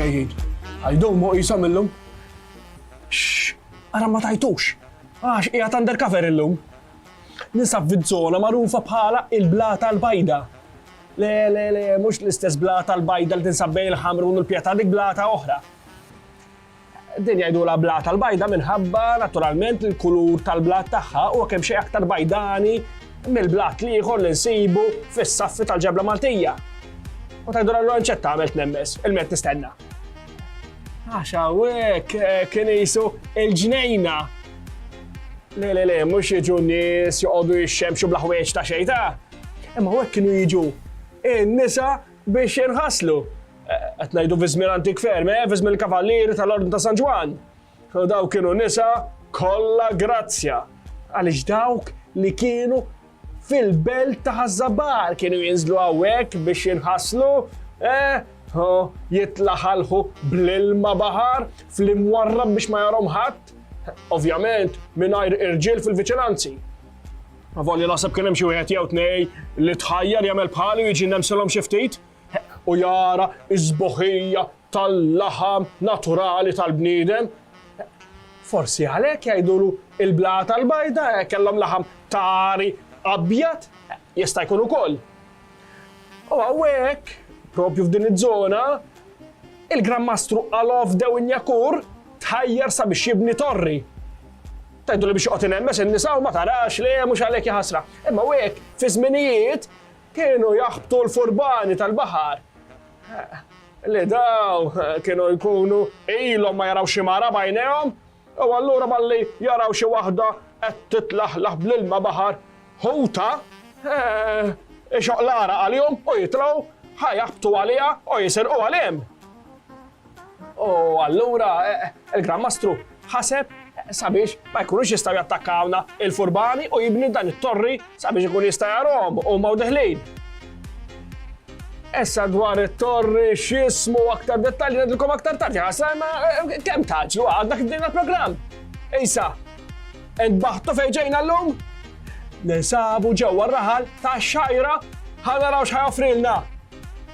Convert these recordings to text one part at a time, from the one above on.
ġejjin. Għajdumu jisom illum. Ara ma tajtux. Għax, ija undercover illum. Ninsab fiż-żona magħrufa bħala il-Blata l-Bajda. Le, le, le, mhux l-istess Blata l-Bajda li tinsab bejn il-Ħamrun u l-Pjetà, dik Blata oħra. Din jgħidulha Blata l-Bajda minħabba naturalment li l-kulur tal-blat tagħha huwa kemm xejn aktar bajdani mill-blat li ieħor li nsibu fis-saffi tal-ġebla Maltija. U tgħidulha allura nċetta għamilt nemmes, il-ment nistenna. Għax hawnhekk eh, kien jisu il-ġnejna. Le le le, mhux jiġu nies joqogħdu jixxemxu bla ħwejġ ta' xejn ta'. Imma hawnhekk kienu jiġu in-nisa biex jinħaslu. Eh, qed ngħidu viżmien antik ferm, eh, viżmien il-kavallieri tal-Ordni ta' San Ġwan. U dawk kienu nisa kollha grazzja, għaliex dawk li kienu fil-belt ta' ħazzabar kienu jinżlu għawek biex jinħaslu, eh, jitlaħalħu bl-ilma bahar fl-imwarrab biex ma jarom ħadd, ovvjament mingħajr irġiel fil-viċinanzi. Volli naħseb kien hemm xi wieħed jew tnej li tħajjar jagħmel bħalu jiġi nemsilhom xi ftit u jara iż-żboħija tal-laħam naturali tal-bniedem. Forsi għalhekk jgħidulu il-blata l-bajda kellhom laħam ta' għari abjad, jista' jkun ukoll. U hawnhekk, propju f'din iż-żona, il-Gran Mastru Alof Dew Injakur tħajjar sabiex jibni torri. Tajdu li biex joqgħod inhemmes in-nisa u ma tarax li mhux għalhekk jaħasra. Imma hekk fi żminijiet kienu jaħbtu l-furbani tal-baħar Li daw kienu jkunu ilhom ma jaraw xi mara b'għajnejhom, u allura malli jaraw xi waħda qed titlaħlaħ bl-ilma baħar ħuta, ixoqlar għalihom u jitlgħu ħa jaħbtu għaliha u jisirquha lhemm. U allura il-Gran Mastru ħaseb sabiex ma jkunux jistgħu jattakkawna il-furbani u jibni dan it-torri sabiex ikun jista' jarhom u ma deħlin. Issa dwar it-torri x'ismu aktar dettalji ngħidilkom aktar tard ħasra ma eh, kemm taġlu għadna kif din il-programm. Issa, entbaħtu fejn ġejna llum? Ninsabu ġewwa r-raħal ta' xajra ħanaraw x'ħajofrilna.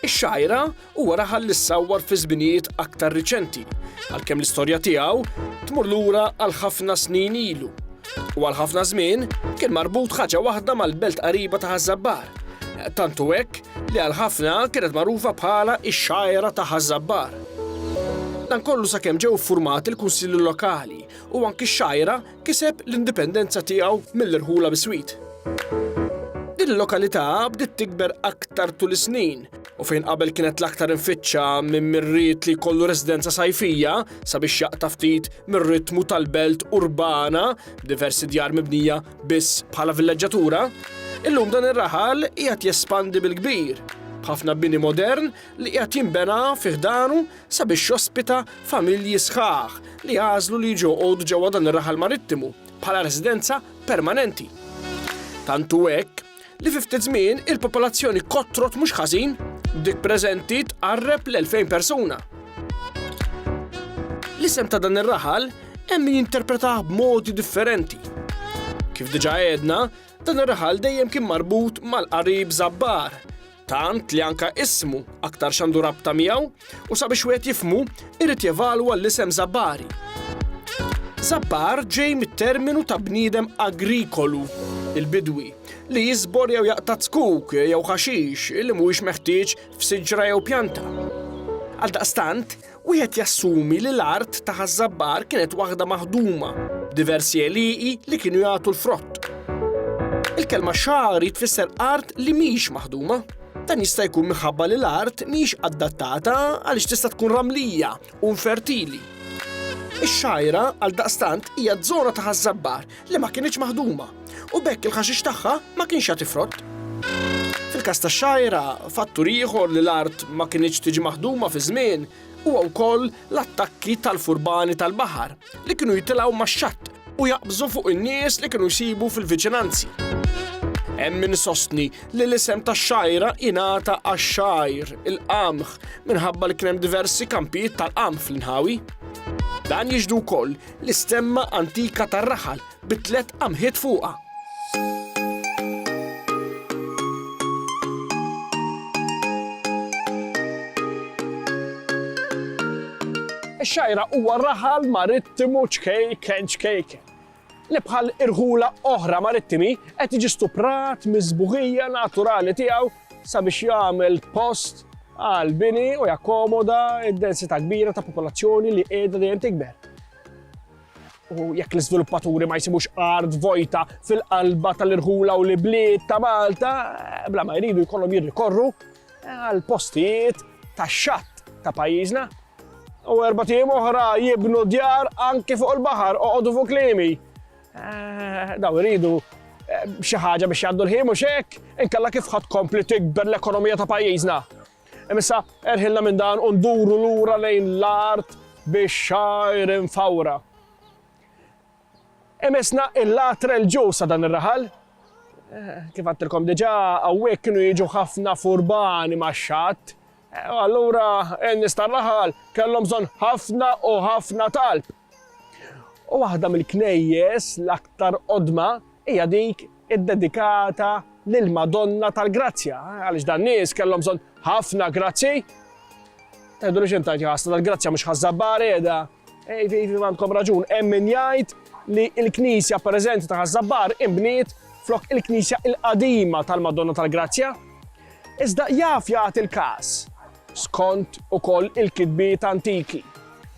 Ix-xgħira huwa raħal li ssawwar fi żminijiet aktar riċenti, għalkemm l-istorja tiegħu tmur lura għal ħafna snin ilu. U għal ħafna żmien kien marbut ħaġa waħda mal-belt qariba ta' Ħaż-Żabbar. Tantu hekk li għal ħafna kienet magħrufa bħala x-xgħira ta' Ħaż-Żabbar. Dan kollu sakemm ġew iffurmati l-kunsilli lokali u anki x-xgħira kiseb l-indipendenza tiegħu mill-irħula biswit. Din il-lokalità bdiet tikber aktar tul is-snin u fejn qabel kienet l-aktar infittxa minn min ried li jkollu residenza sajfija sabiex jaqta' ftit mir-ritmu tal-belt urbana b'diversi djar mibnija biss bħala villeġġatura, illum dan ir-raħal qiegħed jespandi bil-kbir, b'ħafna bini modern li qiegħed jinbena fi ħdanu sabiex jospita familji sħaħ li għażlu li jiġu joqogħdu ġewwa dan ir-raħal marittimu bħala residenza permanenti. Tant hu hekk li fi ftit żmien il-popolazzjoni kotrot mhux ħażin, b'dik preżenti tqarreb l-2000 persuna. L-isem ta' dan ir-raħal hemm min jinterpretah b'modi differenti. Kif diġà għedna, dan ir-raħal dejjem kien marbut mal-qarib Zabbar, Tant li anke ismu aktar x'għandu rabta miegħu u sabiex wieħed jifhmu irid jevalwa l-isem Żabbari. Żabbar ġej mit-terminu ta' bniedem agrikolu, il-bidwi, li jiżbor jew jaqta' tkuk jew ħaxix li mhuwiex meħtieġ f'siġra jew pjanta. Għaldaqstant, Wieħed jassumi li l-art ta' Ħaż-Żabbar kienet waħda maħduma, b'diversi għelieqi li kienu jagħtu l-frott. Il-kelma xagħri tfisser art li mhix maħduma. Dan jista' jkun minħabba li l-art mhix adattata għaliex tista' tkun ramlija u infertili. Ix-xagħira, għaldaqstant, hija żona ta' Ħaż-Żabbar li ma kinitx maħduma u bekk il-ħaxix tagħha ma kienx jagħti frott. Fil-każ ta' xajra, fattur ieħor li l-art ma kinitx tiġi maħduma fi żmien huwa wkoll l-attakki tal-furbani tal-baħar li kienu jitilgħu max-xatt u jaqbżu fuq in-nies li kienu jsibu fil-viċinanzi. Hemm min sostni li l-isem tax-xajra ingħata għax-xajr, il-qamħ, minħabba li kien hemm diversi kampijiet tal-qamħ fl-inħawi. Dan jiġdu wkoll L-istemma antika tar-raħal bi tliet qamħiet fuqha. Ix-xgħira huwa raħal marittimu ċkejken ċkejken li bħal irħula oħra marittimi qed jiġi stuprat miż-sbuħija naturali tiegħu sabiex jagħmel post għal bini u jakkomoda d-densità kbira ta' popolazzjoni li qiegħda dejjem tikber. U jekk l-iżviluppaturi ma jsibux art vojta fil-qalba tal-irħula u l-ibliet ta' Malta, eh, bla ma jridu jkollhom jirrikorru eh, għal postijiet ta' xatt ta' pajjiżna. U erba' tim oħra jibnu djar anke fuq il-baħar oqogħdu fuq klimi. Daw iridu xi ħaġa biex jgħaddu l-ħin mhux hekk, inkella kif ħadd kompli tikber l-ekonomija ta' pajjiżna. Imissa erħilna minn dan u nduru lura lejn l-art biex xajr infawra. Imissna il-latra l-ġus sa' dan ir-raħal. Eh, kif għattilkom diġa, għawek kienu jiġu ħafna furbani ma' xat. Eh, allura, n-nistar raħal kellhom bżonn ħafna u ħafna talb. U waħda mill-knejjes l-aktar qodma hija dik iddedikata lill-Madonna tal-Grazzja, għaliex dan nies kellhom bżonn ħafna grazzi. Tgħidu li xintajt jħassa tal-grazzja mhux ħażabbar qiegħda. Ejfi, ejfi, għandkom raġun, hemm min jgħid li l-knisja preżenti ta' ħażabbar imbniet flok il-knisja il-qadima tal-Madonna tal-Grazzja. Iżda jaf jagħti l-każ skont ukoll il-kitbiet antiki,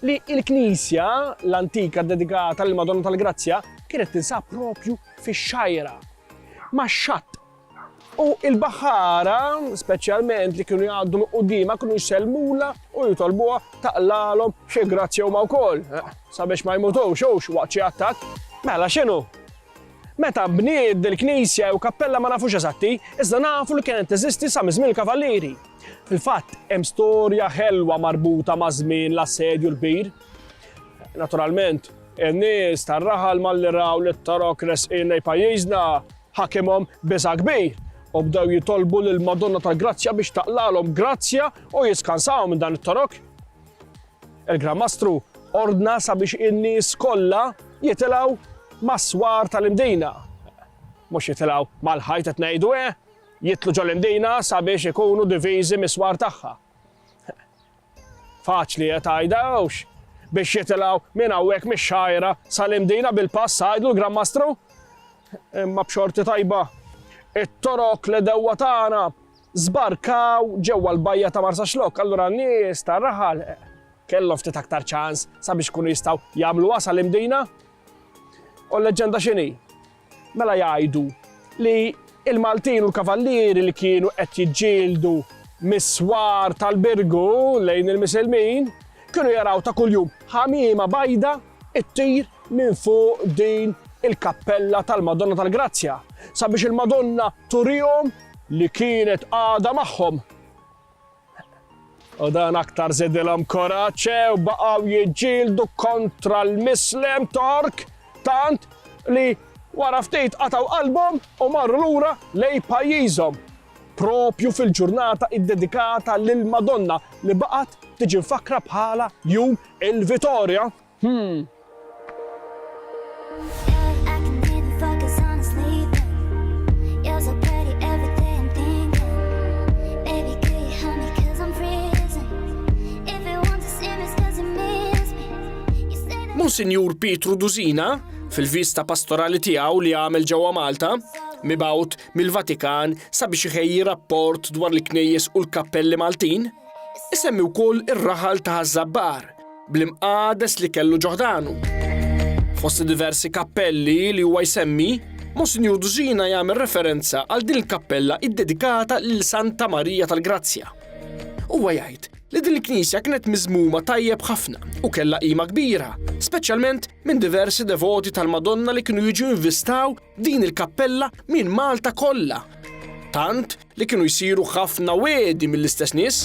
li l-knisja l-antika ddedikata lill-Madonna tal-Grazzja kienet tinsab proprju fix-xgħira, max-xatt, u l-baħħara, speċjalment, li kienu jgħaddu minn quddiemha kienu jsellmulha u jitolbuha taqlagħlhom xi grazzja huma wkoll, sabiex ma jmutux hux waqt xi attakk. Mela x'inhu? Meta nbniet dil-knisja jew kappella ma nafux eżatti, iżda nafu li kienet teżisti sa miż-żmien il-Kavallieri. Fil-fatt, hemm storja ħelwa marbuta ma' żmien l-assedju l-kbir. Naturalment, in-nies tar-raħal malli raw li t-Torok resqin lejn pajjiżna ħakimhom biża' kbir u bdew jitolbu lil Madonna tal-Grazzja biex taqlalhom grazzja u jiskansahom minn dan it-Torok. Il-Gran Mastru ordna sabiex in-nies kollha jitilgħu mas-swar tal-imdina. Mhux jitilgħu mal-ħajt qed ngħidu eh, Jidħlu ġol-Imdina sabiex ikunu diviżi mis-swar tagħha. Faċli qed għidha, hux? Biex jitilgħu minn hawnhekk mix-Xgħajra sal-Imdina bil-pass għidlu l-Granmastru? Imma b'xorti tajba. It-torok li dewwa tagħna żbarkaw ġewwa l-bajja ta' Marsa Xlok, allura n-nies ta' raħal eh, kellhom ftit aktar ċans sabiex kunu jistgħu jagħmlu wasal imdina. U l-leġenda x'inhi? Mela jgħidu li l-Maltin u l-Kavallieri li kienu qed jiġġieldu mis-swar tal-Birgu lejn il-Misilmin kienu jaraw ta' kuljum ħamiema bajda ttir minn fuq din il-kappella tal-Madonna tal-Grazzja sabiex il-Madonna turihom li kienet għadha magħhom. U dan aktar żidilhom koraċe u baqgħu jiġġieldu kontra l-mislem Tork tant li wara ftit qataw qalbhom u marru lura lej pajjiżhom. Propju fil-ġurnata iddedikata lil Madonna li baqgħet tiġi mfakkra bħala jum il-Vitorja. Hm. Monsinjur Pietru Duzina, fil-vista pastorali tiegħu li għamel ġewwa Malta, mibgħut mill-Vatikan sabiex iħejji rapport dwar l-knejjes u l-kappelli Maltin, isemmi wkoll ir-raħal ta' Żabbar bl-imqades li kellu ġo ħdanu. Fost diversi kappelli li huwa jsemmi, Monsinjur Dużina jagħmel referenza għal din il-kappella iddedikata lil Santa Marija tal-Grazzja. Huwa jgħid li din il-knisja kienet miżmuma tajjeb ħafna u kellha qima kbira, speċjalment minn diversi devoti tal-Madonna li kienu jiġu jinvistaw din il-kappella minn Malta kollha. Tant li kienu jsiru ħafna wegħdi mill-istess nies.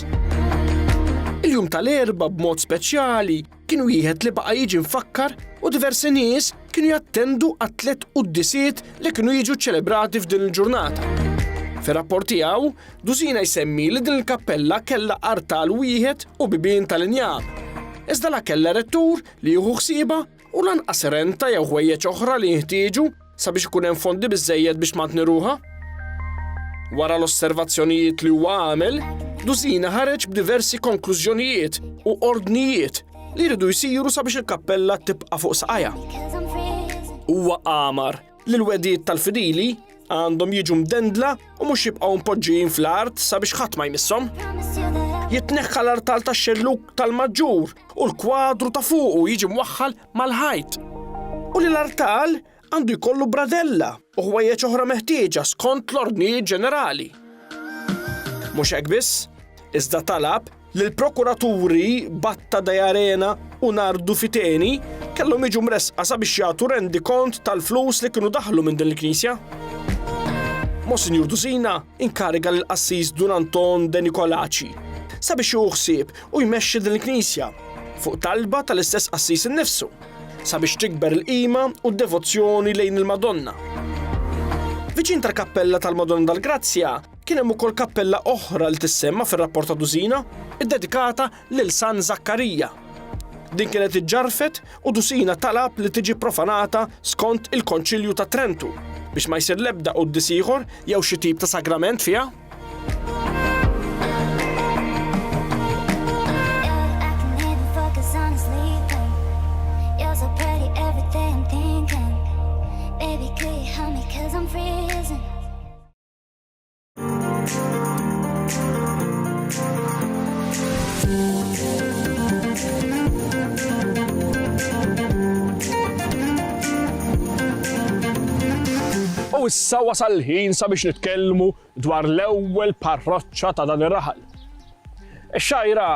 Il-jum tal-erba b'mod speċjali kienu wieħed li baqa' jiġi mfakkar u diversi nies kienu jattendu għat-tliet quddisiet li kienu jiġu ċelebrati f'din il-ġurnata. Fir-rapport tiegħu, Dusina jsemmi li din il-kappella kellha artal wieħed u bibien tal-injam. Iżda la kellha rettur li jieħu ħsieba u lanqas renta jew ħwejjeġ oħra li jinħtieġu sabiex ikun hemm fondi biżżejjed biex tmantni ruħha. Wara l-osservazzjonijiet li huwa għamel, Dusina ħareġ b'diversi konklużjonijiet u ordnijiet li jridu jsiru sabiex il-kappella tibqa' fuq saqajha. Huwa għamar li l-wegħdiet tal-fidili għandhom jiġu mdendla u mhux jibqgħu mpoġġijin fl-art sabiex ħadd ma jmisshom. Jitneħħa l-artal tax-xelluk tal-maġġur u l-kwadru ta' fuqu jiġi mwaħħal mal-ħajt. U li l-artal għandu jkollu bradella u ħwejjeġ oħra meħtieġa skont l-ordnijiet ġenerali. Mhux hekk biss, iżda talab L-prokuraturi Batta Deiarena u Nardu Fiteni kellhom jiġu mressqa sabiex jagħtu rendikont tal-flus li kienu daħlu minn din il-knisja. Monsinjur Dusina inkariga lil qassis Dun Anton De Nicolaci sabiex jieħu ħsieb u jmexxi din il-knisja fuq talba tal-istess qassis innifsu sabiex tikber il-qima u d-devozzjoni lejn il-Madonna. Viċin tal-kappella tal-Madonna tal-Grazzja Kien hemm ukoll kappella oħra li tissemma fir-rapport ta' Dusina, iddedikata lil San Żakkarija. Din kienet iġġarrfet u Dusina talab li tiġi profanata skont il-Konċilju ta' Trentu biex ma jsir l-ebda quddis ieħor jew xi tip ta' sagrament fiha. U issa wasal ħin sabiex nitkellmu dwar l-ewwel parroċċa ta' dan ir-raħal. Ix-xajra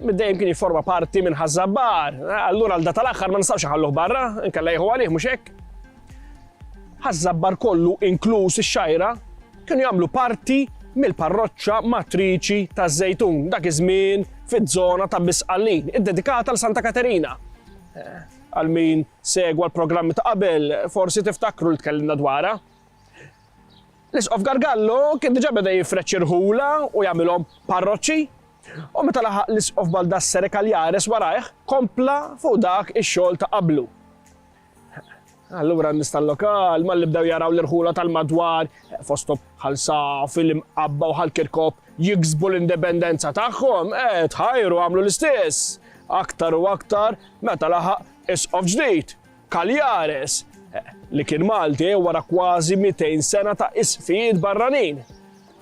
middejjem kien jiforma parti minn ħażabbar, allura għal data l-aħħar ma nistgħux ħalluh barra, inkella jieħu għalih mhux hekk. Ħaż-Żabbar kollu, inkluż ix-Xgħajra, kienu jagħmlu parti mill-parroċċa matriċi ta' Żejtun, dak iż-żmien fiż-żona ta' Bisqallin, iddedikata għal Santa Katerina. Għal min segwa l-programmi ta' qabel, forsi tiftakru li tkellimna dwarha. L-Isqof Gargallo kien diġà beda jifreċ irħula u jagħmilhom parroċċi U meta laħaq l-isqof Baldassere Kaljares warajh, kompla fuq dak ix-xogħol ta' qablu. Allura n-nies tal-lokal malli bdew jaraw l-irħula tal-madwar, fosthom Ħal Saf, il-Imqabba u Ħal Kirkop, jiksbu l-indipendenza tagħhom, eh, tħajru għamlu l-istess. Aktar u aktar meta laħaq isqof ġdid, Kaljares, eh, li kien Malti wara kważi 200 sena ta' isqfijiet barranin.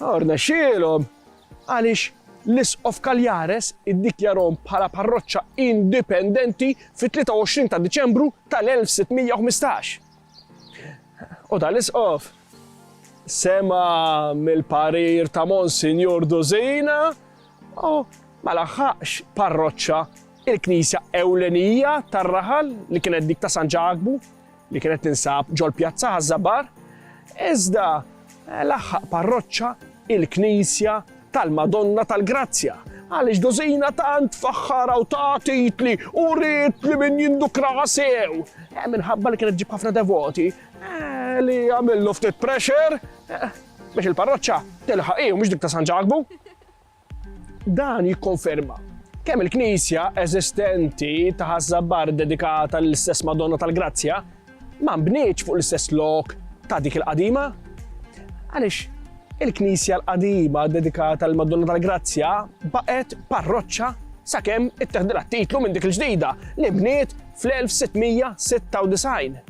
Orna xielhom għaliex l-Isqof Cagliares iddikjarahom bħala parroċċa indipendenti fit-23 ta' Diċembru tal-1615. U dan l-Isqof sema mill-parir ta' Monsinjur Dusina u ma laħħaqx parroċċa il-knisja ewlenija tar-raħal li kienet dik ta' San Ġakbu li kienet tinsab ġol Pjazza Ħaż-Żabbar, iżda l-aħħaq parroċċa il-Knisja tal-Madonna tal-Grazzja, għaliex dożina tant faħħara u ta' titli u rrit li min jindukra sew. Eh, minħabba li kienet ġib ħafna devoti eh, li għamillu ftit pressure eh, biex il-parroċċa tilħaq u mhux dik ta' San Ġakbu. Dan jikkonferma kemm il-knisja eżistenti ta' Ħaż-Żabbar dedikata lill-istess Madonna tal-Grazzja ma nbnietx fuq l-istess lok ta' dik il-qadima. Għaliex il-knisja l-qadima dedikata lill Madonna tal-Grazzja baqgħet parroċċa sakemm itteħdilha titlu minn dik il-ġdida li bniet fl-1696.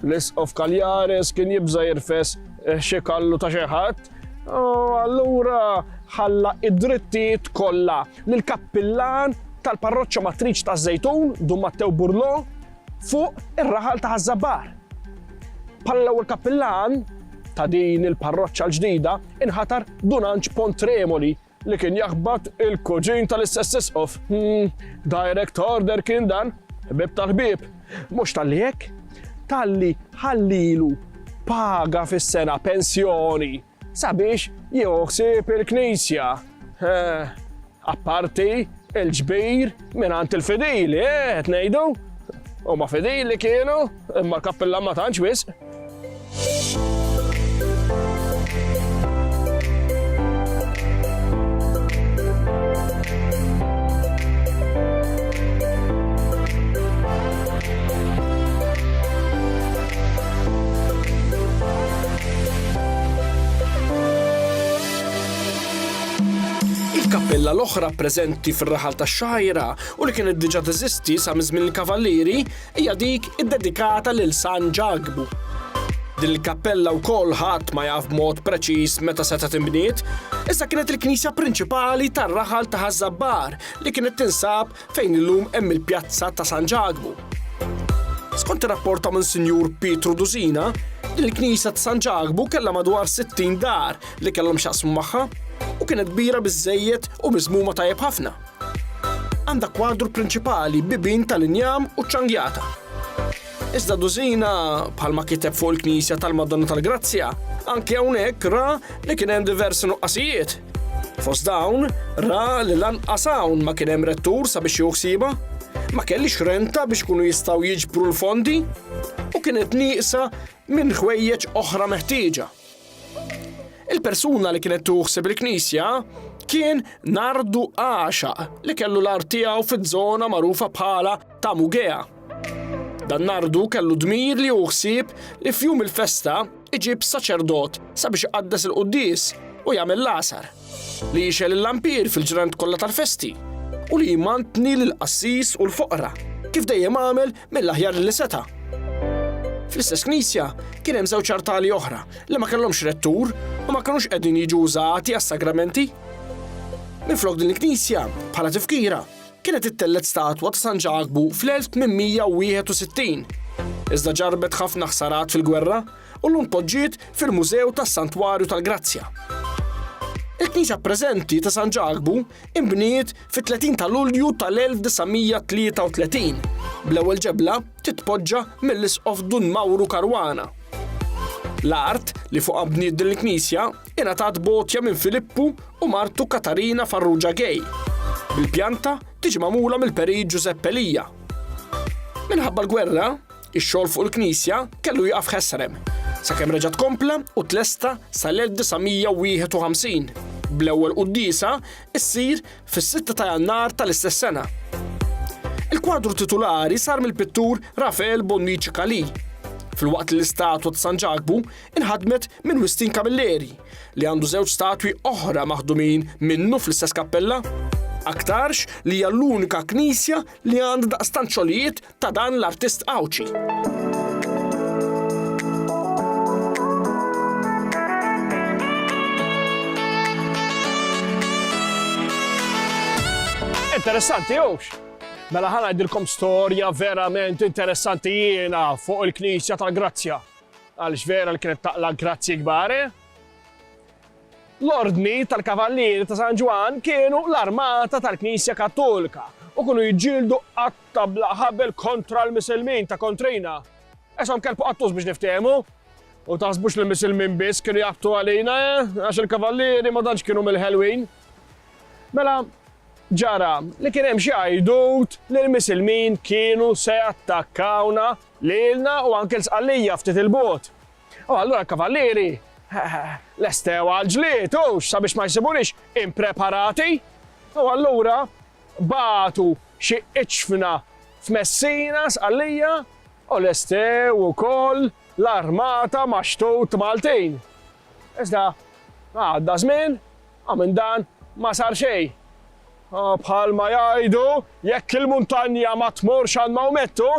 L-Isqof Kalliaris kien jibża' jirfes xi kallu ta' xi ħadd, u allura ħalla d-drittijiet kollha lill-kappillan tal-parroċċa matriċ ta' Żejtun, Dun Mattew Burlò, fuq ir-raħal ta' Ħaż-Żabbar. Bħala l-ewwel kappillan ta' din il-parroċċa l-ġdida inħatar Dun Anġ Pontremoli, Li kien jaħbat il-kuġin tal-istess isqof. Hmm, direct order kien dan, ħbieb tal-ħbieb. Mhux talli hekk, talli ħallilu paga fis-sena pensjoni sabiex jieħu ħsieb il-Knisja. Eh, apparti il-ġbir minn għand il-fidili, eh, qed ngħidu. Huma fidili kienu. Imma l-kappillan ma tantx wisq. Il-kappilla l-oħra preżenti fir-raħal tax-Xagħajra u li kienet diġà teżisti sa miż-żmien il-Kavallieri, hija dik iddedikata lil San Ġakbu. Din il-kappella wkoll ħadd ma jaf b'mod preċiż meta setgħet inbniet, iżda kienet il-knisja prinċipali tar-raħal ta' Ħaż-Żabbar li kienet tinsab fejn illum hemm il-pjazza ta' San Ġakbu. Skont ir-rapport ta' Monsinjur Pietru Dusina, din il-knisja ta' San Ġakbu kellha madwar 60 dar li kellhom x'jaqsmu magħha u kienet kbira biżżejjed u miżmuma tajjeb ħafna. Għandha kwadru prinċipali bibin tal-injam u ċangjata. Iżda dużina, bħalma kiteb fuq il-Knisja tal-Madonna tal-Grazzja, anke hawnhekk ra li kien hemm diversi nuqqasijiet. Fost dawn, ra li lanqas hawn ma kien hemm rettur sabiex juħsiba, ma kellix renta biex kunu jistgħu jiġbru l-fondi u kienet nieqsa minn ħwejjeġ oħra meħtieġa. Il-persuna li kienet tuħseb il-knisja kien Nardu Għaxa li kellu l-art tiegħu fiż-żona magħrufa bħala ta' Mugea. Dan Nardu kellu dmir li uħsib li f'jum il-festa iġib saċerdot sabiex iqaddes il-quddis u jagħmel l-asar li jixel il-lampir fil-ġrant kollha tal-festi u li jmantni l-qassis u l-foqra kif dejjem għamel mill-aħjar li seta'. Fl-istess knisja kien hemm żewġ artali oħra li ma kellhomx rettur u ma kinux qegħdin jiġu użati għas-sagramenti. Minflok din il-knisja, bħala tifkira, kienet ittellet statwa ta' San Ġakbu fl-1861. Iżda ġarbet ħafna ħsarat fil-gwerra u l-lum poġġiet fil-Mużew tas-Santwarju tal-Grazzja. Il-knisja preżenti ta' San Ġakbu inbniet fit-30 ta' Lulju tal-1933, bl-ewwel ġebla titpoġġa mill-Isqof Dun Mawru Caruana. L-art li fuqha bniet din il-knisja ingħatat b'għotja minn Filippu u martu Katarina Farrugia Gay, bil-pjanta tiġi magħmula mill-Perit Ġużepp Elia. Minħabba l-gwerra, Ix-xogħol fuq il-knisja kellu jaqaf ħesrem, sakemm reġa' tkompla u tlesta sal-1951, bl-ewwel quddiesa ssir fis-6 ta' Jannar tal-istess sena. Il-kwadru titulari sar mill-pittur Rafael Bonnici Calì, filwaqt li l-istatwa ta' San Ġakbu inħadmet minn Wistin Camilleri, li għandu żewġ statwi oħra maħdumin minnu fl-istess kappella. Aktarx li hija l-unika knisja li għandha daqstant xogħlijiet ta' dan l-artist Għawdxi. Interessanti, jux? Mela ħana għajdilkom storja verament interessanti jiena fuq il-Knisja tal-Grazzja. Għal vera li kienet taqla grazzi kbare. Eh? L-ordni tal-Kavallieri ta' San Ġwan kienu l-armata tal-Knisja Kattolika u kunu jġildu għat Tagħmlha ħabel kontra l-Misilmin ta' kontrina. Għishom kelb u qattus biex niftehmu. U taħsbux li l-Misilmin biss kienu jaqbtu għalina, eh? Għax il-kavallieri ma tantx kienu mill-ħelwin. Mela, ġara li kien hemm xi għajdut li l-Misilmin kienu se jattakkawna lilna u anke l-sqallija ftit il-bot. U allura l-kavallieri lestew għal-ġlied u sabiex ma jsibunix impreparati. U allura Bagħtu xi iċfna f'Messina, Sqallija, u lestew ukoll l-armata ma' xtut Maltin. Iżda għadda żmien u minn dan ma sar xejn. Bħalma jgħidu, jekk il-muntanja ma tmurx għand Mawmettu,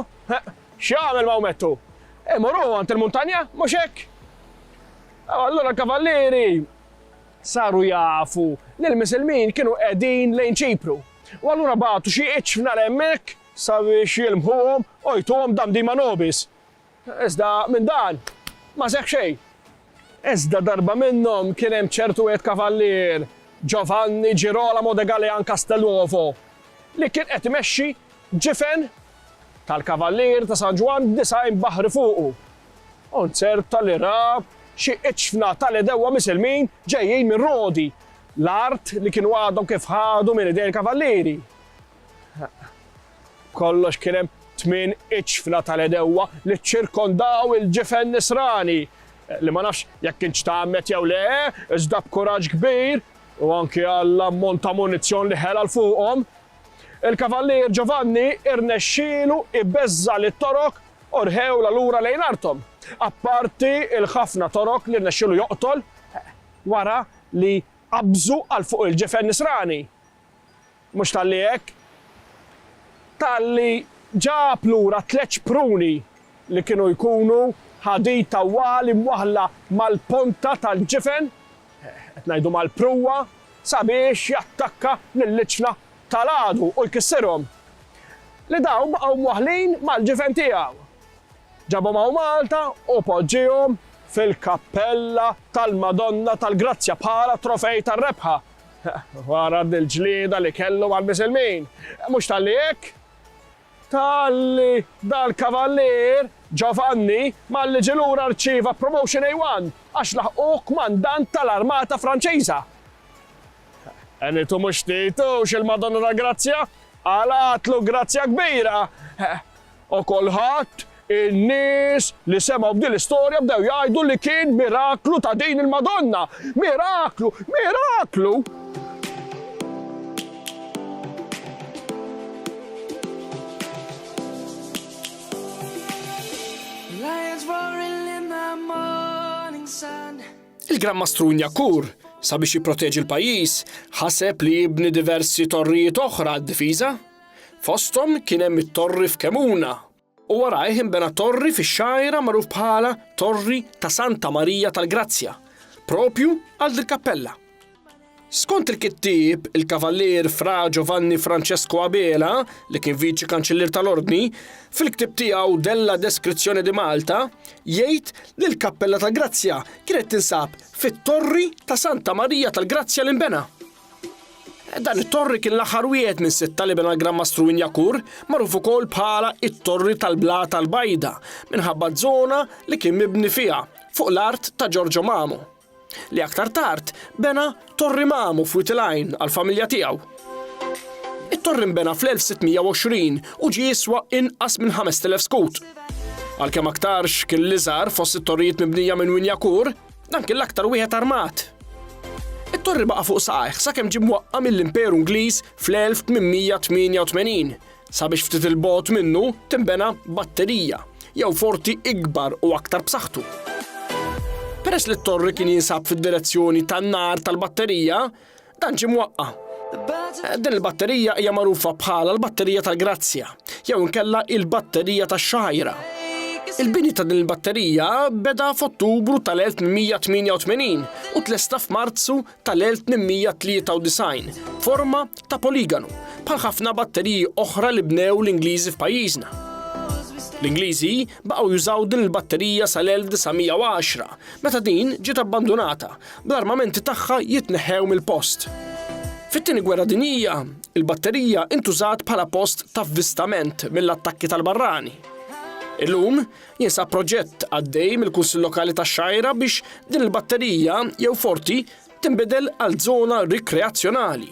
x'jagħmel Mawmettu? Imur hu għand il-muntanja, mhux hekk? Allura l-kavallieri Saru jafu li l-Misilmin kienu qegħdin lejn Ċipru, u allura bagħtu xi iċfna 'l hemmhekk sabiex jilmħuhom u jtuhom Damdima Nobis. Iżda minn dan ma seħħ xejn. Iżda darba minnhom kien hemm ċertu wied kavallier, Giovanni Girolamo de Galean Castelnuovo, li kien qed imexxi ġifen tal-Kavallieri ta' San Ġwann b'disgħin baħri fuqu. Konzert ta' li ra xi iċfna ta' l-għedewwa Misilmin ġejjin minn Rodi, l-art li kienu għadhom kif ħadu minn idejn il-Kavallieri. B'kollox kien hemm tmien iċfna ta' l-għedewwa li ċċirkondaw il-ġifen Nisrani li ma nafx jekk kienx tgħammed jew le, iżda b'kuraġġ kbir u anki għall-ammont ta' munizzjon li ħela 'l fuqhom, Il-Kavallier Giovanni irnexxielu jbeżża' lit-Torok u rħewlha lura lejn arthom, apparti l-ħafna Torok li rnexxielu joqtol wara li qabżu għal fuq il-ġifen Nisrani. Mhux talli hekk, talli ġab lura tliet xpruni li kienu jkunu ħadid tawwal imwaħħla mal-ponta tal-ġifen, Qed ngħidu mal-pruwa sabiex jattakka lill-iċla tal-għadu u jkissirhom. Li dawn baqgħu mwaħħlin mal-ġifen tiegħu. Ġabhom hawn Malta u poġġiehom fil-kappella tal-Madonna tal-Grazzja bħala trofej tar-rebħa. Wara l-ġlieda li kellu mal-Misilmin. Mhux talli hekk. Talli dal-Kavallier Giovanni malli ġie lura rċieva Promotion A1 għax laħqu Kmandant tal-Armata Franċiża. Enitu mhux Titu x'il-Madonna tal-Grazzja, għala għatlu grazzja kbira! O kulħadd In-nies li semgħu b'din l-istorja bdew jgħidu li kien miraklu ta' din il-Madonna. Miraklu! Miraklu! Il-Gran Mastru Nyakur, sabiex jipproteġi l-pajjiż, ħaseb li jibni diversi torrijiet oħra għad-difiża. Fosthom kien hemm it-torri f'Kemuna. u warajh inbena torri fix-Xgħajra magħruf bħala Torri ta' Santa Marija tal-Grazzja, proprju għal dil-kappella. Skont il-kittieb, il-Kavallier Fra Giovanni Francesco Abela, li kien Viċi Kanċillier tal-Ordni, fil-ktieb tiegħu Della Descrizione di Malta, jgħid li l-Kappella tal-Grazzja kienet tinsab fit-Torri ta' Santa Marija tal-Grazzja li nbena. Dan it-torri kien l-aħħar wieħed minn sitta li bena l-Gran Mastru Injakur, magħruf ukoll bħala it-Torri tal-Blata l-Bajda minħabba żona li kien mibni fiha fuq l-art ta' Ġorġo Mamu, li aktar tard bena Torri Mamu f'Wied il-Għajn għall-familja tiegħu. It-torri nbena fl-1620 u ġie jiswa inqas minn 5,000 skut. Għalkemm aktarx kien l-iżgħar fost it-torrijiet mibnija minn Winjakur, Dan kien l-aktar wieħed armat. It-torri baqa' fuq saqajh sakemm ġie mwaqqa' mill-Imperu Ingliż fl-1888 sabiex ftit il-bogħod minnu tinbena batterija jew forti ikbar u aktar b'saħħtu. Peress li t-torri kien jinsab fid-direzzjoni tan-nar tal-batterija, Dan ġie mwaqqa'. Din il-batterija hija magħrufa bħala l-batterija tal-grazzja, jew inkella il-batterija tax-xagħira. Il-bini ta' din il-batterija beda f'Ottubru tal-1888 u tlesta f'Marzu tal-1893 f'forma ta' poligonu, bħal ħafna batteriji oħra li bnew l-Ingliżi f'pajjiżna. L-Ingliżi baqgħu jużaw din il-batterija sal-1910, meta din ġiet abbandunata bl-armamenti tagħha jitneħħew mill-post. Fit-Tieni Gwerra Dinjija, il-batterija intużat bħala post ta' vvistament mill-attakki tal-barrani. Illum jinsab proġett għaddej mill-Kunsill Lokali tax-Xgħajra biex din il-batterija jew forti tinbidel għal żona rikreazzjonali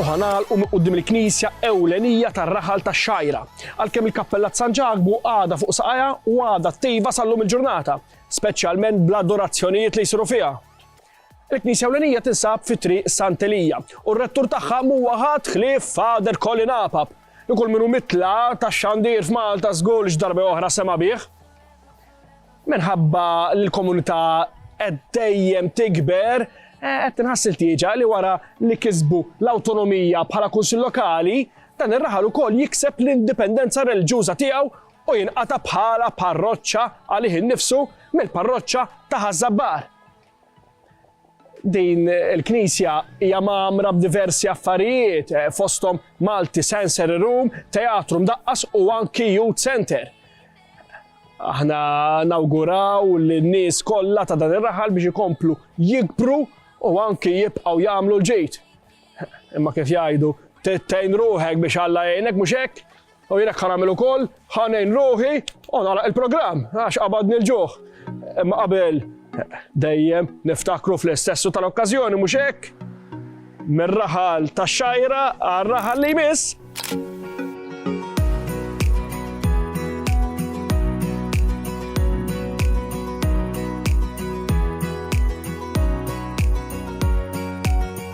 u ħa nagħlqu minn quddiem il-knisja ewlenija tar-raħal tax-Xgħajra. Għalkemm il-Kappella ta' San Ġakbu għadha fuq saqajha u għadha tejba sal-lum il-ġurnata, speċjalment bl-adorazzjonijiet li jsiru fiha. Il-Knisja Ewlenija tinsab fi triq Sant'Elija u r-rettur tagħha mhuwa ħadd ħlief Fader Colin Apap li kull minnu mitla tax-xandir f'Malta żgur li x'darba oħra sema' bih. Minħabba li l-komunità qed dejjem tikber, qed tinħass il-tieġa li wara li kisbu l-awtonomija bħala kunsill lokali, dan ir-raħal ukoll jikseb l-indipendenza reliġjuża tiegħu u jinqata' bħala parroċċa għalih innifsu mill-parroċċa ta' Ħaż-Żabbar. Din il-knisja hija magħmra b'diversi affarijiet eh, fosthom Malti Sensory Room, Teatru Mdaqqas u anki Youth Center. Aħna nawguraw li n-nies kollha ta' dan ir-raħal biex ikomplu jikbru u anki jibqgħu jagħmlu l-ġejt. Imma kif jgħidu, tittejn ruħek biex Alla jgħinek mhux hekk, U jien hekk ħa nagħmel ukoll, ħa ngħin ruħi u nagħlaq il-programm għax qabadni l-ġuħ. Imma qabel dejjem niftakru fl-istessu tal-okkażjoni mhux hekk? Mir-raħal tax-xajra għar-raħal li jmiss.